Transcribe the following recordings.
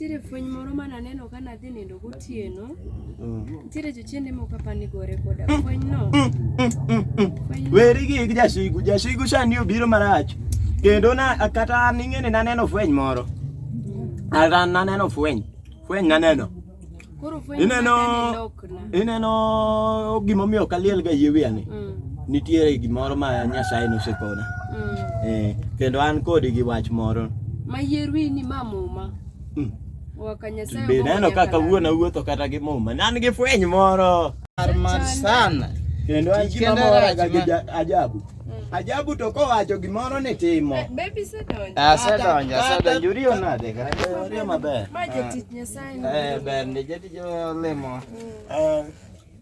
Nitiere fweny moro ma naneno ka nadhi nindo gotieno. Nitiere jochiende moko apa ni gore koda fwenyno. Weri gi gi jasigu, jasigu sani obiro marach. Kendo na kata an ing'eni naneno fweny moro. Kata naneno fweny, fweny naneno. Ineno ineno gima omiyo ok aliel ga yie wiya ni. Mm. Nitiere gimoro ma Nyasaye nosekona. Mm. Eh, kendo an kodi gi wach moro. Ma yie wiyi ni ma muma. Mm. Be neno kaka wuon awuotho kata gi muma. Nan gi fweny moro. Mar sana. Kendo an gima mora ga gi ajabu. Mm. Ajabu to kowacho gimoro ni timo. Eh, baby sedonjo. Ah, sedonjo, sedonjo. Uriyo nade? Uriyo maber. Ma jatich ah. Nyasaye. Eh, ber ndi jatich olemo. Eh.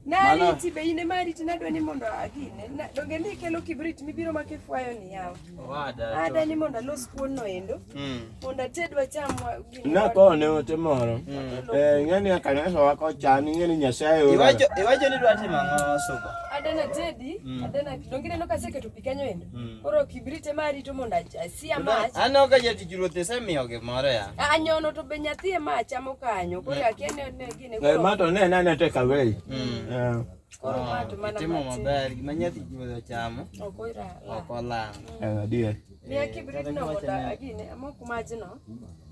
Nariti be in ema ariti nadwa ni mondo agine. Donge ni ikelo kibrit mibiro ma kifwayo ni yawa. Owada. Ada ni mondo alos kuon no endo. Mm. Mondo atedwa cham wa gini. Na ko ne ote moro. Mm. Eh ngani akanesa wako chani ngani nyasaye ora. Iwacho iwacho ni dwati mango suba. Ada na tedi, mm. ada na donge neno kaseketo pikanyo endo. Koro kibrit ema arito mondo cia match Ano ka yeti kilo tesa mi oge moro ya. anyono to be nyathi ema achamo kanyo koro akiani ne gine Eh, koro mato ne nane take away. Mm. Eh, koro mato mana Timo matin maber gima nyathi kilo chamo ok oira la okolang. eh, adier. ni akibrit no moda agine amok majno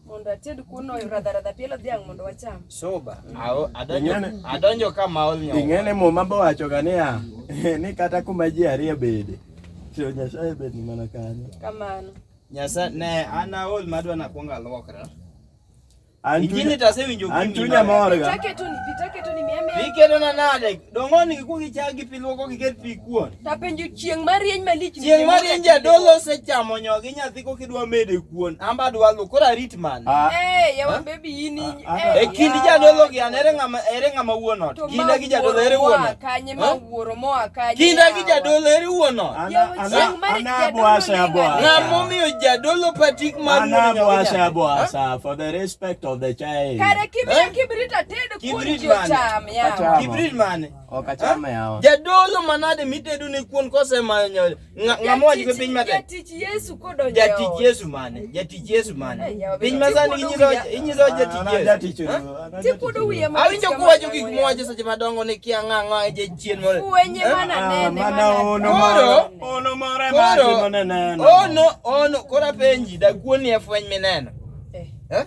mondo ated kuno radharadha pielo dhiang' mondo wacham. Soba. Ao- adonjo- Ing'ene- Adonjo ka maol nyo. Ing'ene muma bowachoga niya ni kata kuma ji ariyo bede to Nyasaye bed ni mana kanyo. Kamano. Nyasa ne an aol madwa nakwongo alwokra. An Injili chunya- tasewinjo an kuimi chunya maber. morga. Pitake tu ni pitake tu ni mia mia. Ikelona nade? Dongoni ku gichagi pi luoko giket pi kuon. Tapenjo chieng' marieny malich. Chieng' marieny jadolo osechamo nyogi nyathi ko kidwa mede kuon. Amba dwa luok koro arit man. Ah. Eh, yawa ah. baby yini. Ah, eh, e kind jadolo gi an ere ng'ama ere ng'ama wuon ot. Kinda gi jadolo ere wuon ot. Kanye ma wuoro mo akanye. Kinda gi jadolo ere wuon ot. Ana boasa boasa. Ng'ama omiyo jadolo patik mar wuon ot. Ana boasa boasa for the respect of the child. Kare kimya eh? kibrita tedo. Kibrit mane? Cham yawa. Kibrit mane? Okachama yawa. Jadolo manade mitedo ne kuon kose manyo. Ng'amo wacho piny mate. Jatich Yesu kodonjo. Jatich Yesu mane? Jatich Yesu mane? Piny masani inyiso inyiso jatich Yesu. Jatich Yesu. Tikudo wiye ma. Awinjo kuwacho gik mwacho seche madongo ni kia ng'ang'o e jachien moro. Kuwenye mana ah, nene. Mana ono moro. Ono moro e mati mana neno. Ono ono kora penji da kuon ni e fweny mineno. Eh? eh?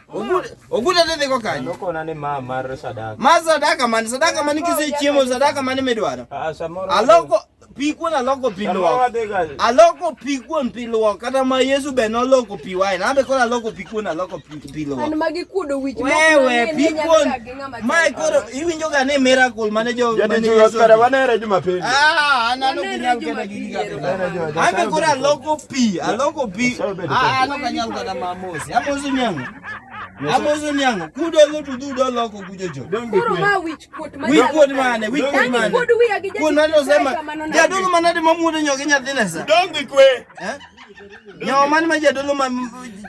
Oguta tete kwa kanyo. Noko nane ma mar sadaka. Ma sadaka man sadaka man kise chiemo sadaka man midwaro. Ah samoro. Aloko pi kuon aloko pi luok. Aloko pi kuon pi luok kata ma Yesu be noloko pi wine. Ambe koro aloko pi kuon aloko pi luok. An magi kuodo wich. Wewe pi kuon. Mae koro iwinjo ga ni miracle mane jo mane jo Oscar wanere Jumapili. Ah, analo kunyal kata gigi ga. Ame koro aloko pi, aloko pi. Ah, ano kanyal kata mamosi. Amosi nyango. Amosi nyango. Kudo go to dudo loko kujojo. Koro ma wich kuot mane. Wich kuot mane, wich kuot mane. Kudo wiya gi jaji. Kudo mane osema. Jadugo manade mamuodo nyoke nyathine sa. Dongi kwe. Eh? Nyo man ma jadolo ma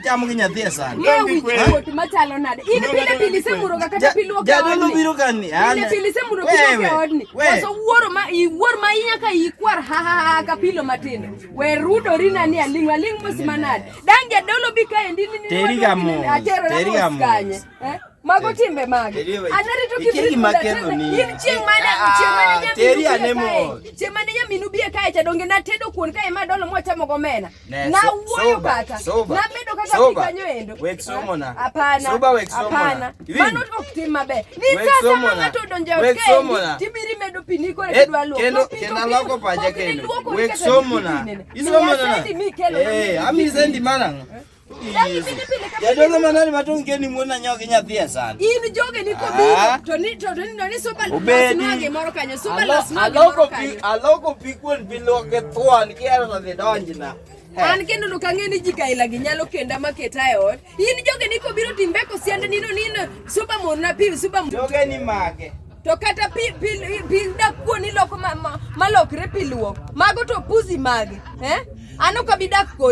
chamo gi nyathi e san. Ng'e wichkuot machalo nade. In pile pile isemuroga kata pile okeodni. Jadolo biro ka ni. Pile pile isemuro pile okeodni. Waso wuoro ma iwuor ma inya ka ikwar ha ha ha ka pilo matindo. We rudori na ni aling aling mos manade. Dan jadolo bi ka endi ni ni. Teri ga mos. Teri ga mos. Mago timbe mage? Anari to kibri kula tena. In chieng' mane chieng' mane nyaminu teri anemo. Chieng' mane nyaminu bie kae cha donge na tedo kuon kae ma dolo mo chamo go mena. Na wuoyo kata. Na medo kata kikanyo endo. Wek somo na. Hapana. Soba wek somo na. Mano to ok tim maber. Ni sasa ma ng'ato donjo e kae. Tibiri medo pini kore eh, kidwa luoko. Kendo kendo loko paja kendo. Wek somo na. Isomo na. Eh, ami sendi mana. Yadolo manani matonge ni muona nyoke nyathi e san. In joge ni kobiro ah. to ni to ni no ni super las noge moro kanyo super las noge moro kanyo. Aloko pi kuon pi loke thuan ki ero dhi donjna. Eh. An kendo no kang'e ni ji kaila gi nyalo kenda maketa e ot. In joge ni kobiro timbe ko siende ni no ni no super mon na pi super mon. Joge ni mage. To kata pi pi pi da kuon ni loko ma malokre pi luok. Mago to puzi mage. Eh? Ano kabidak kod